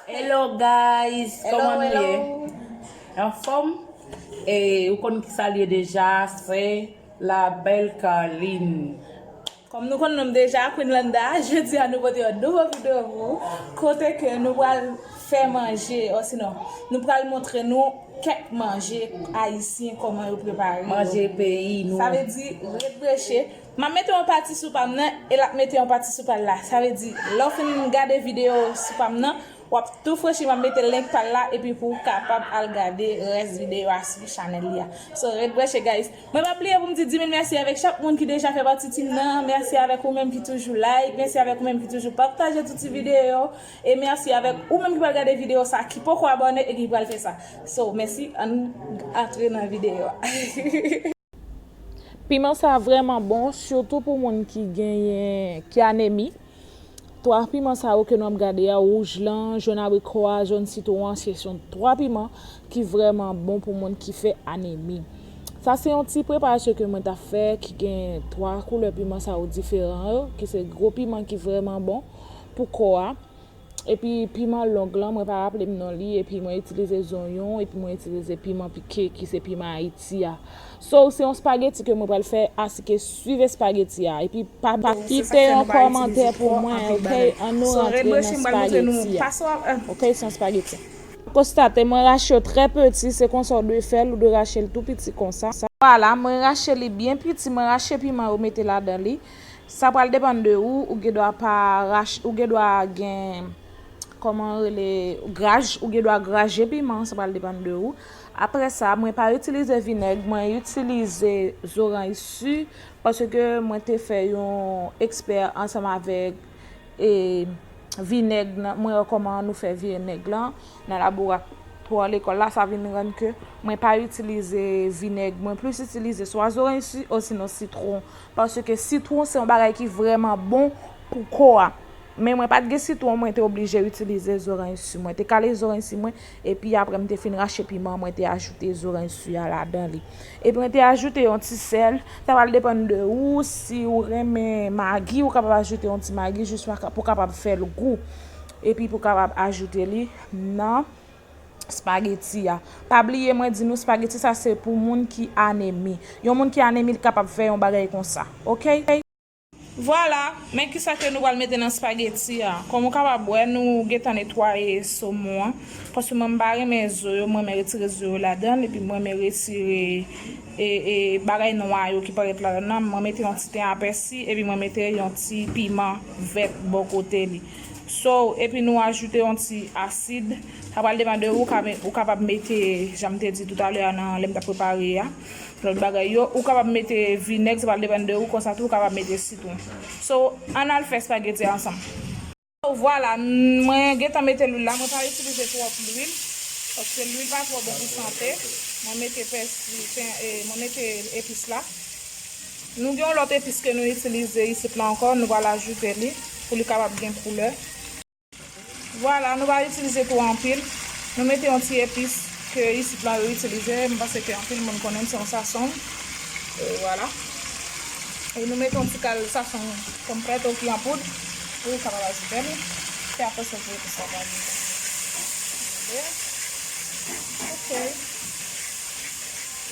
Hello guys, koman nou ye? Anfom? E ou konn ki sa liye deja, se la belle Carline. Kom nou konn nom deja, Queen Landa, jodi a nou pote yon nouvo video pou ou, kote ke nou pral fè manje, osinon, nou pral montre nou kek manje ayisyen koman yo prepare yo. Manje peyi nou. Sa vle di, ret breche, M ap mete yon pati sou pa m nan e l ap mete yon pati sou pa l la. Sa vle di, lè w fin gade videyo sou pa m nan, w ap tou franchi m ap mete link pa l la epi pou w kapab al gade rès videyo a sou chanèl li a. So, ret branche guys. Mwen pa bliye pou m di 10.000 mèsi avèk chak moun ki deja fè pati team nan, mèsi avèk ou menm ki toujou like, mèsi avèk ou menm ki toujou pataje tout ti videyo yo, e mèsi avèk ou menm ki pral gade videyo sa ki poko abòne e ki pral fè sa. So, mèsi, ann antre nan videyo a. Piman sa vrèman bon sitou pou moun ki genyen ki anemi. 3 piman sa yo ke nou ap gade a wouj lan, jòn abriko a, jòn sitwon an se son 3 piman ki vrèman bon pou moun ki fè anemi. Sa se yon ti preparasyon ke mwen ta fè ki gen 3 koulè piman sa yo diferan yo ki se gwo piman ki vrèman bon pou kò a. Epi piman long lan mwen pa raplem non li epi mwen itilize zonyon epi mwen itilize piman pike ki se piman ayiti a so se yon spageti ke mwen pral fè asike swiv espageti a epi pa kite yon kòmantè pou mwen ok an nou rantre nan spageti a ok se yon spageti konstate mwen rache yo trè peti se konsa ou dwe fèl ou dwe rachel tou piti konsa. Vwala mwen rache li byen piti mwen rache piman yo mete ladan li. Sa pral depann de ou, ou gen dwa pa rach, ou gen dwa gen Koman yo rele graj, ou gen dwa graje piman, sa pral depann de ou. Aprè sa, mwen pa itilize vinèg, mwen itilize zoranj si paske mwen te fè yon ekspè ansanm avèk e vinèg nan, mwen wè koman nou fè vinèg lan nan laboratwa lekòl la, sa vin rann ke mwen pa itilize vinèg, mwen plis itilize swa zoranj si osinon sitwon. Paske sitwon se yon bagay ki vrèman bon pou kò a. Men mwen pat gen sitwon mwen te oblije itilize zorany su. Mwen te kale zorany su mwen epi apre mwen te fin rache piman mwen te ajoute zorany su a ladan li. Epi mwen te ajoute yon ti sèl. Sa pral depann de ou si ou renmen magi ou kapab ajoute yon ti magi jis pou kapab fè l gou. Epi pou kapab ajoute li nan. spageti a. Pa bliye mwen di nou spageti sa se pou moun ki anemi. Yon moun ki anemi li kapab fè yon bagay konsa. Ok. Vwala, men kisa ke nou pral mete nan spageti a. Kòm ou kapab wè nou gentan netwaye somon an. Paske mwen m pa renmen zo yo, m renmen retire zo yo ladanl epi m renmen retire e bagay nwa yo ki parèt ladann nan. Mwen mete yon ti ten apèsi epi mwen mete yon ti piman vèt bò kote li. So epi nou ajoute yon ti asid. Sa pral depande ou ka ou kapab mete janm te di toutalè a nan lèm tap prepare a lòt bagay yo. Ou kapab mete vinèg sa pral depande ou konsa tou ou kapab mete sitwon. So ann al fè spaghetti a ansanm. So vwala mwen gentan mete lwil la mwen pa itilize twòp lwil paske lwil pa twò bon pou sante. Mwen mete pèsi mwen mete epis la. Nou gen yon lòt epis ke nou itilize isit la ankò, nou pral ajoute li pou li kapab gen koulè. Vwala, nou pa itilize twò anpil. Nou mete yon ti epis ke isit la yo itilize, m panse ke anpil moun konnen l, se yon sasong. E vwala. E nou mete yon ti kal sasong pòm frèt ou ki an poud pou li kapab ajoute li. Se apre sa ti epis la pral moute. Gade. Ok.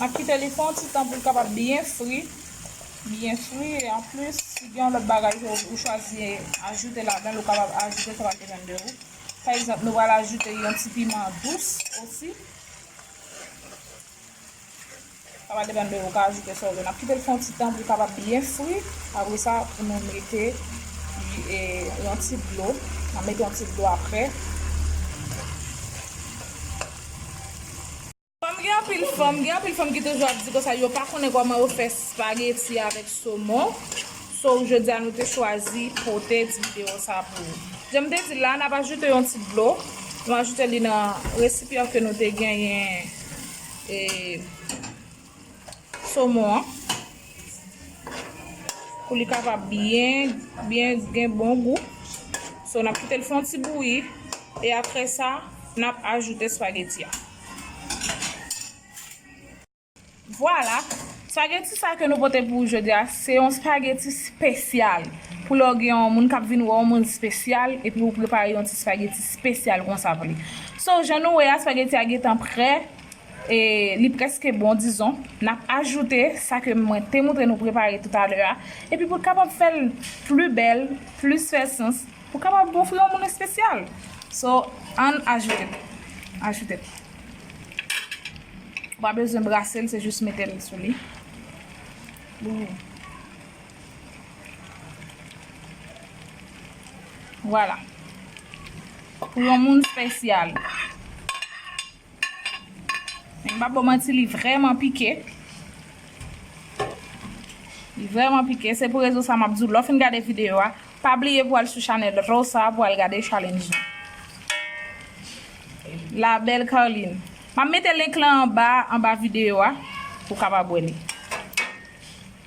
Map kite li fon ti tan pou l kapab byen fri, byen fri e an plis si gen yon lòt bagay ke ou chwazi ajoute ladan l ou kapab ajoute sa pa depann de ou. Pa egzanp nou pral ajoute yon ti piman dous osi. Sa va depann de ou ka ajoute sa ou vle. N ap kite l fè yon ti tan pou l kapab byen fri. Apre sa, pou nou mete yon ti dlo. N ap mete yon ti dlo apre. Kòm gen anpil fanm, gen anpil fanm ki toujou ap di konsa yo pa konnen kòman yo fè spageti avèk somon. So, jodi a nou te chwazi pote ti videyo sa pou ou. Jan m te di l la, n ap ajoute yon ti dlo. Nou ajoute li nan resipyan ke nou te genyen. E somon an. Pou li kapab byen, byen gen bon gou. So, n ap kite l fon ti bouyi. E apre sa, n ap ajoute spageti a. Vwala! Spageti sa ke nou pote pou ou jodi a se yon spageti spesyal pou lè w gen yon moun kap vin wè w yon moun spesyal epi ou prepare yon ti spageti spesyal konsa pou li. So jan nou wè a spageti a gentan prè e li preske bon dizon nap ajoute sa ke mwen te moutre nou prepare toutalè a epi pou kapab fè l pli bèl plis fè sans pou kapab ofri yon moun espesyal so ann ajoute l ajoute l. Ou pa bezwen brase l se jis mete l sou li. Vwala. Pou yon moun spesyal. Men m pa bo manti li vreman pike. Li vreman pike. Se pou rezon sa m ap di w lè w fin gade videyo a. Pa bliye pou al sou chanel Rosa pou al gade challenge lan. La belle Carline. Map mete link lan anba anba video a pou kapab wè li.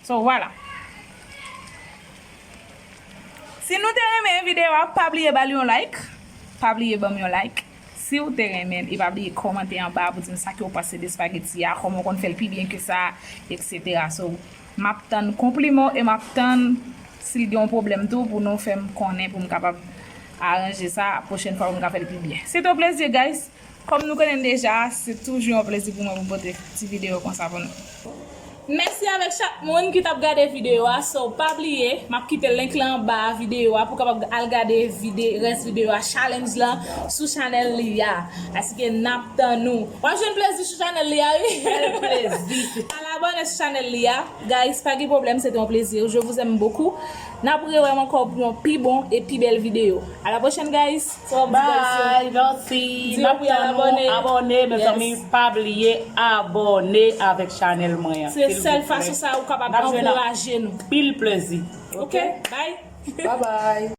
So vwala. Si nou te renmen video a pa bliye bal yon like. Pa bliye banm yon like siw te renmenl e pa bliye kòmante anba pou dim sa kew panse de spaghetti a, kòman w konn fèl pi byen ke sa etc. So. Map tann konpliman w e map tann si l gen yon pwoblèm tou pou nou fè m konnen pou m kapab aranje sa pwochèn fwa pou m ka fè l pi byen. Se te yon plezi guys! Kòm nou konnen deja se toujou yon plezi pou mwen pou m pote ti videyo konsa pou nou. Mèsi avèk chak moun ki tap gade videyo a so pa bliye map kite link lan anba videyo a pou kapab al gade vide rès videyo a challenge lan sou chanèl li a paske nap Tanou. Wap jwenn plezi sou chanèl li a wi. Bèl plezi. Al abòne sou chanèl li a. Guys pa gen pwoblèm se te yon plezi. Je vous aime beaucoup. Nap rewèm ankò pou yon pi bon e pi bèl videyo. A la pwochèn guys. Sa wap di guys yo? Bye merci. Di yo pou yal abòne. Nap tann ou abòne mezanmi pa bliye abòne avèk chanèl mwen an. Se sèl fason sa ou kapab ankouraje nou. Nap jwenn anpil plezi. Ok bye. Bye bye.